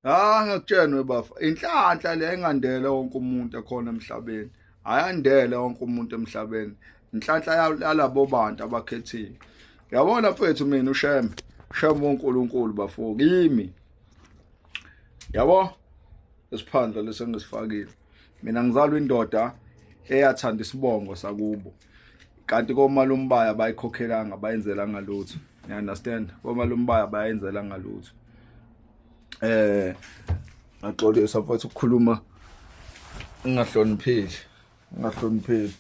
ha ngikutshenwe bafa inhlanhla le engandele wonke umuntu ekhona emhlabeni ayandele wonke umuntu emhlabeni inhlanhla yalabo bantu abakhethiwe yabona mfethu mina usheme sheme uNkulunkulu bafo kimi yabo esiphandla lesengisifakile mina ngizalwa indoda eyathanda isibongo sakubo kanti komalumbaya bayikhokhelanga bayenzelanga lutho you understand komalumbaya bayenzelanga lutho eh ngaxolisa futhi ukukhuluma ngingahlonipheli ngingahlonipheli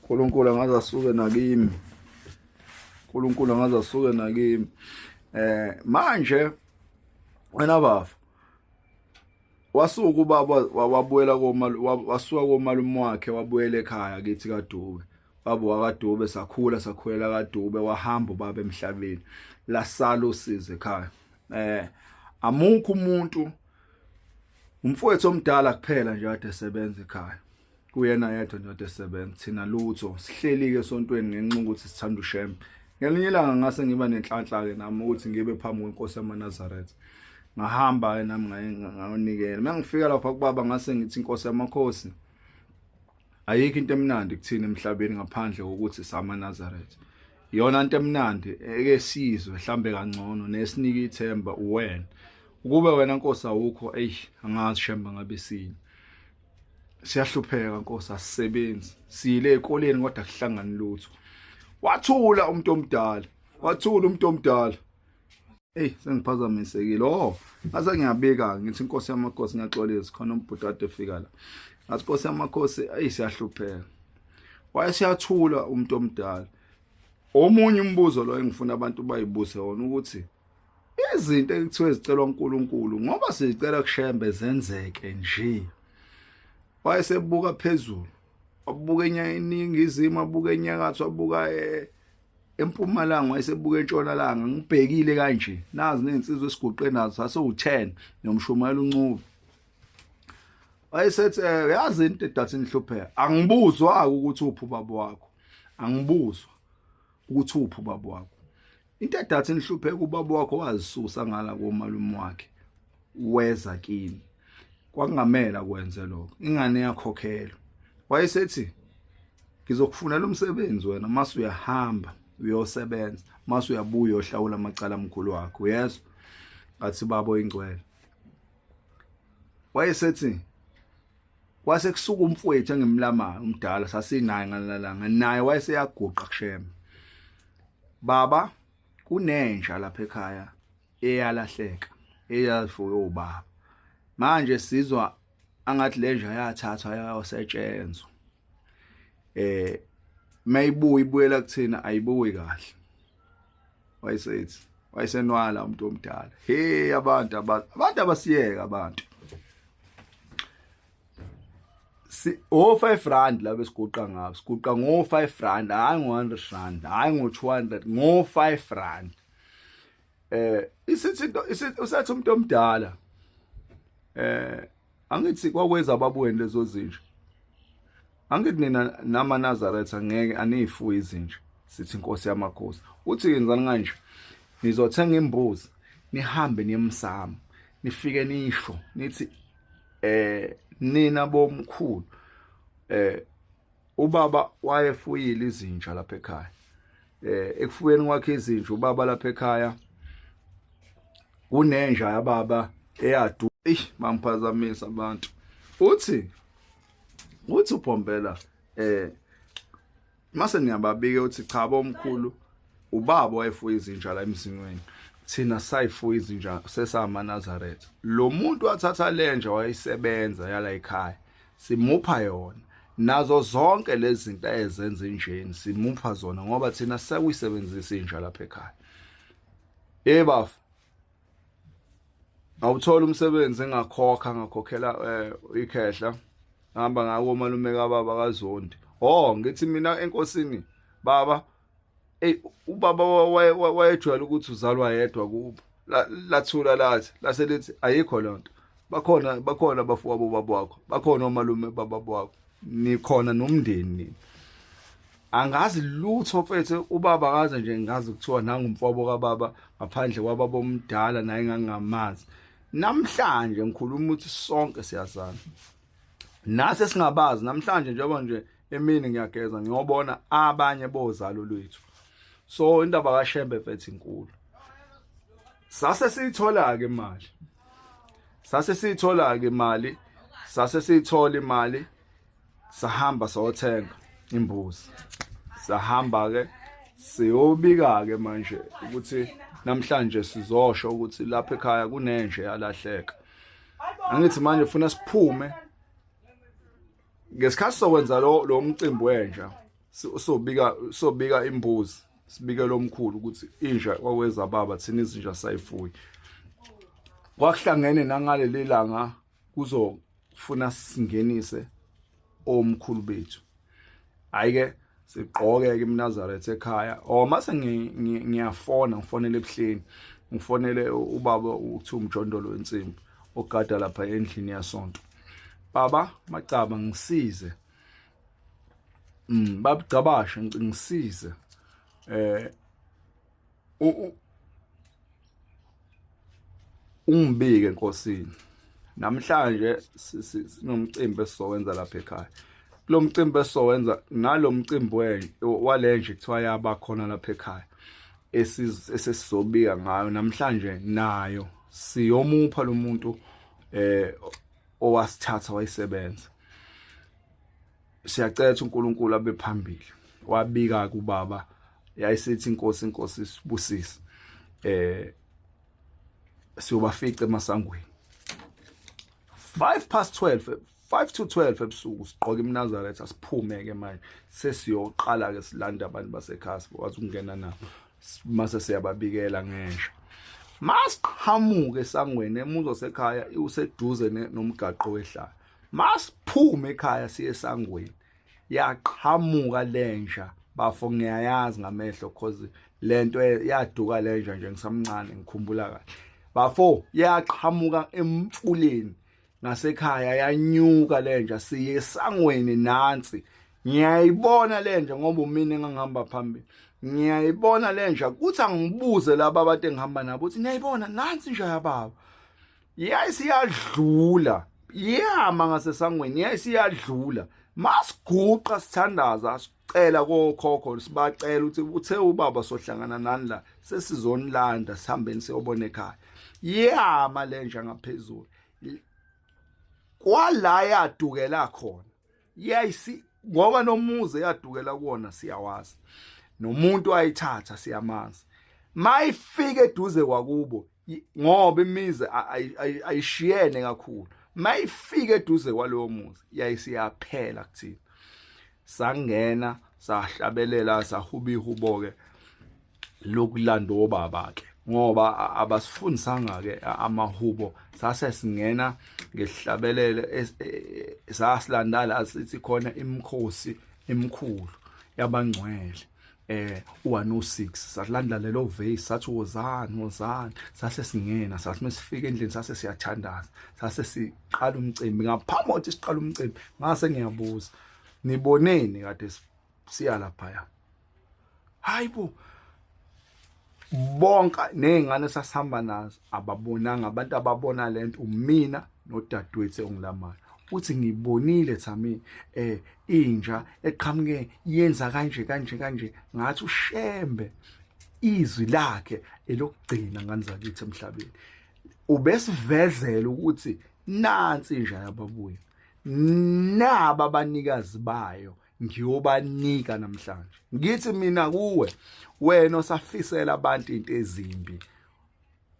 uNkulunkulu angaze asuke nakimi uNkulunkulu angaze asuke nakimi eh manje wena bafa wasuka ubaba wabuyela komalu wasuka komalume wakhe wabuyela ekhaya kithi kaDube baba wakadube sakhula sakhulela kadube wahamba ubaba emhlabeni lasala usize ekhaya eh amukho umuntu umfowethu omdala kuphela nje ade sebenza ekhaya kuyena yedwa nje ade sebenza thina lutho sihlelike esontweni ngenxa ukuthi sithanda uShem ngelinye ilanga ngase ngiba nenhlanhla ke nami ukuthi ngibe phambi kwenkosi yamaNazaretha ngahamba ke nami ngayonikela mangifika lapha kubaba ngase ngithi inkosi yamakhosi ayikho into emnandi kuthina emhlabeni ngaphandle kokuthi sama Nazareth yona into emnandi eke sizwe mhlambe kangcono nesinike ithemba uwena ukube wena nkosi awukho eish angazi shemba ngabe sini siyahlupheka nkosi asisebenzi siyile ekoleni kodwa kuhlangani lutho wathula umuntu omdala wathula umuntu omdala Eyi sengiphazamisekile oh ngase ngiyabika ngithi inkosi yamakhosi ngiyaxolisa khona umbhuti ade fika la ngathi inkosi yamakhosi eyi siyahlupheka wayesiyathula umuntu omdala omunye umbuzo lo engifuna abantu bayibuse wona ukuthi izinto ekuthiwe zicelwa uNkulunkulu ngoba sizicela kushembe zenzeke nje wayesebuka phezulu wabuka eningizimu abuka enyakatho wabuka eh, empumalanga wayesebuka entshonalanga ngibhekile kanje nazi nezinsizwa esiguqe nazo sasewu-10 nomshumayela uncuba wayesethi eh, uyazi into edathi nihlupheka angibuzwa-ke ukuthi uphi ubaba wakho angibuzwa ukuthi uphi ubaba wakho into edathi nihlupheka ubaba wakho wazisusa ngala komalume wakhe weza kimi kwakungamela kwenze lokho ingane yakhokhela wayesethi ngizokufunela umsebenzi wena mase uyahamba uyosebenza mase uyabuya uyohlawula amacala amkhulu wakho yezwa ngathi babo ingcwele wayesethi kwase kusuka umfowethu engimlamayo umdala sasinaye ngalalanga naye wayeseyaguqa kushema baba kunenja lapha ekhaya eyalahleka eyafuywe ubaba manje sizwa angathi lenja yathathwa yayosetshenzwa eh mayibuya ibuyela kuthina ayibuyi kahle wayesethi wayesenwala umuntu omdala hey abantu abantu abasiyeka abantu si o 5 rand la besiguqa ngabo siguqa ngo 5 rand hayi ngo 100 rand hayi ngo 200 ngo 5 rand eh isithi into usathi umuntu omdala eh angithi kwakwenza ababuweni lezo zinja angithi nina nama Nazareth angeke aniyifuyi izinja sithi inkosi yamakhosi uthi yenzani kanje nizothenga imbuzi nihambe niyemsama nifike nisho nithi eh nina bomkhulu eh ubaba wayefuyile izinja lapha ekhaya eh ekufuyeni kwakhe izinja ubaba lapha ekhaya kunenja yababa eyadu eish mamphazamisa abantu uthi uthi ubhombela eh mase niyababike uthi cha bomkhulu ubaba wayefuya izinja la emzinweni thina sayifuya izinja sesama Nazareth lo muntu wathatha lenja wayisebenza yala ekhaya simupha yona nazo zonke lezi zinto ezenza injeni simupha zona ngoba thina sekuyisebenzisa inja lapha ekhaya hey bafo awuthola umsebenzi engakhokha ngakhokhela eh, ikhehla ngihamba ngako malume kababa kazondi oh ngithi mina enkosini baba eyi ubaba wayejwayele ukuthi uzalwa yedwa kubo lathula lathi lase lithi ayikho loo nto bakhona bakhona abafowabo baba wakho bakhona omalume baba wakho nikhona nomndeni nini angazi lutho mfethu ubaba akaze nje ngazi kuthiwa nangumfowabo kababa ngaphandle kwababa omdala naye ngangamazi namhlanje ngikhuluma ukuthi sonke siyazana nase singabazi namhlanje njengoba nje emini ngiyageza ngiyobona abanye bozalo lwethu so indaba kaShembe mfethu inkulu sase siyithola ke imali sase siyithola ke imali sase siyithola imali sahamba sawothenga imbuzi sahamba ke siyobika ke manje ukuthi namhlanje sizosho ukuthi lapha ekhaya kunenje yalahleka angithi manje funa siphume ngesikhathi sokwenza lo lo mcimbi wenja sobika sobika imbuzi sibike lo mkhulu ukuthi inja kwaweza baba thina izinja sayifuyi kwakuhlangene nangaleli langa kuzofuna singenise omkhulu bethu hayi ke sigqoke ke iMnazareth ekhaya or mase ngiyafona ngifonele ebuhleni ngifonele ubaba uthi umjondolo wensimbi ogada lapha endlini yasonto baba macaba ngisize mm babugcabashe ngisize eh ungibike enkosini namhlanje sinomcimbi esizowenza lapha ekhaya kulo mcimbi esizowenza ngalo mcimbi walenje kuthiwa yaba khona lapha ekhaya esesizobika ngayo namhlanje nayo siyomupha lo muntu eh owasithatha wayisebenza siyacela ukuthi uNkulunkulu abe phambili wabika kubaba yayisithi inkosi inkosi sibusise eh siyobafica emasangweni 5 past 12 5 to 12 ebusuku siqoke iMnazareth asiphume ke manje sesiyoqala ke silanda abantu basekhaya sikwazi ukungena nabo mase siyababikela ngesha masiqhamuke esangweni emuzo sekhaya useduze nomgaqo wehlala masiphume ekhaya siye esangweni yaqhamuka lenja bafo ngiyayazi ngamehlo cause lento yaduka lenja nje ngisamncane ngikhumbula kahle bafo yaqhamuka emfuleni ngasekhaya yanyuka lenja siye esangweni nansi ngiyayibona lenja ngoba umina engangihamba phambili ngiyayibona lenja kuthi angibuze laba abade ngihamba nabo ukuthi niyayibona nansi nje yababa yayisiyadlula yama ngasesangweni yayisiyadlula masiguqa sithandaza sicela kokhokho sibacela ukuthi uthe ubaba sohlangana nani la sesizonilanda sihambeni siyobona ekhaya yama lenja ngaphezulu kwala yadukela khona yayisi ngoba nomuzi eyadukela kuwona siyawazi nomuntu ayithatha siyamazi mayifike eduze kwakubo ngoba imizi ayishiyene kakhulu mayifike eduze kwalowo muzi yayisiyaphela kuthina sangena sahlabelela sahubihubo ke lokulanda obaba ke ngoba abasifundisanga ke amahubo sase singena ngehlabelele e, e, sasilandala asithi khona imkhosi emkhulu yabangcwele eh u106 sasilanda lelo vase sathi wozani wozani sase singena sathi mesifika endlini sase siyathandaza sase siqala umcimbi ngaphambi kokuthi siqala umcimbi ngase ngiyabuza niboneni kade siya laphaya hayibo bonka nezingane sasihamba nazo ababonanga abantu ababona lento umina nodadewethu ongilamayo uthi ngibonile thami eh inja eqhamuke yenza kanje kanje kanje ngathi ushembe izwi lakhe elokugcina ngani zakithi emhlabeni ubesivezela ukuthi nansi inja yababuya naba abanikazi bayo ngiyobanika namhlanje ngithi mina kuwe wena osafisela abantu into ezimbi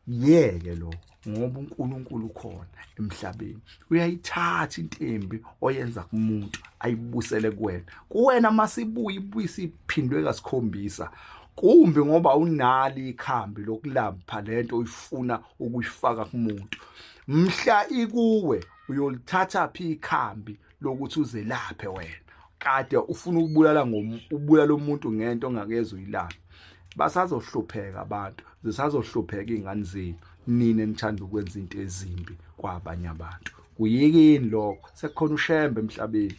yeke lo ngoba uNkulunkulu ukhona emhlabeni uyayithatha intembi oyenza kumuntu ayibusele kuwena kuwena masibuye ibuyisi iphindwe kasikhombisa kumbi ngoba unali ikhambi lokulapha lento uyifuna ukuyifaka kumuntu mhla ikuwe uyolithatha phi ikhambi lokuthi uzelaphe wena kade ufuna ukubulala ubulala umuntu ngento ongakeze uyilaphe basazohlupheka abantu zisazohlupheka ingane zenu nina nithanda ukwenza into ezimbi kwabanye abantu kuyikini lokho sekukhona ushembe emhlabeni